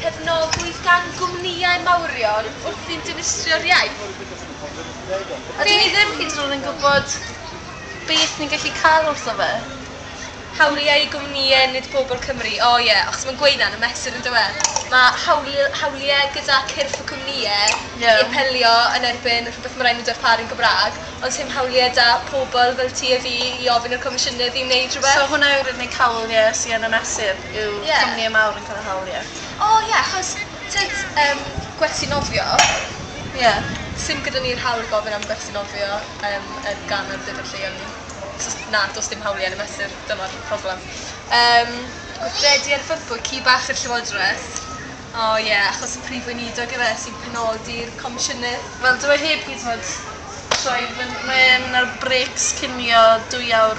cefnogwyd gan gwmnïau mawrion wrth i'n dinistrio'r iaith. A dyn ni ddim hyd yn oed yn gwybod beth ni'n gallu cael wrtho fe. Hawliau i gwmnïau, nid pobl Cymru. O ie, achos mae'n gweud 'na yn y mesur yn dyw e? Mae hawli- hawliau gyda cyrff y cwmnïau... Ie. ...i apelio yn erbyn rhywbeth mae'n rhaid nhw darparu'n Gymraeg, ond sdim hawliau 'da pobl fel ti a fi i ofyn i'r Comisiynydd i wneud rhywbeth. So hwnna yw'r unig hawl, ie, sy yn y mesur? yw yeah. cwmnïau mawr yn cael y hawl, ie. Yeah. O oh, ie, yeah, achos tyd um, gwersi nofio, ie, yeah. sy'n gyda ni'r hawl i gofyn am gwersi nofio um, yn gan ar dydyn lleol ni. So, na, does dim hawliau yn y mesur, dyma'r problem. Um, gweithredu ar fyrbwy ci bach i'r llywodraeth. O oh, ie, yeah, achos y prif weinidog efe sy'n penodi'r comisiynnydd. Wel, dwi e heb hyd yn oed troi fyny. Mae'n ar breaks cinio dwy awr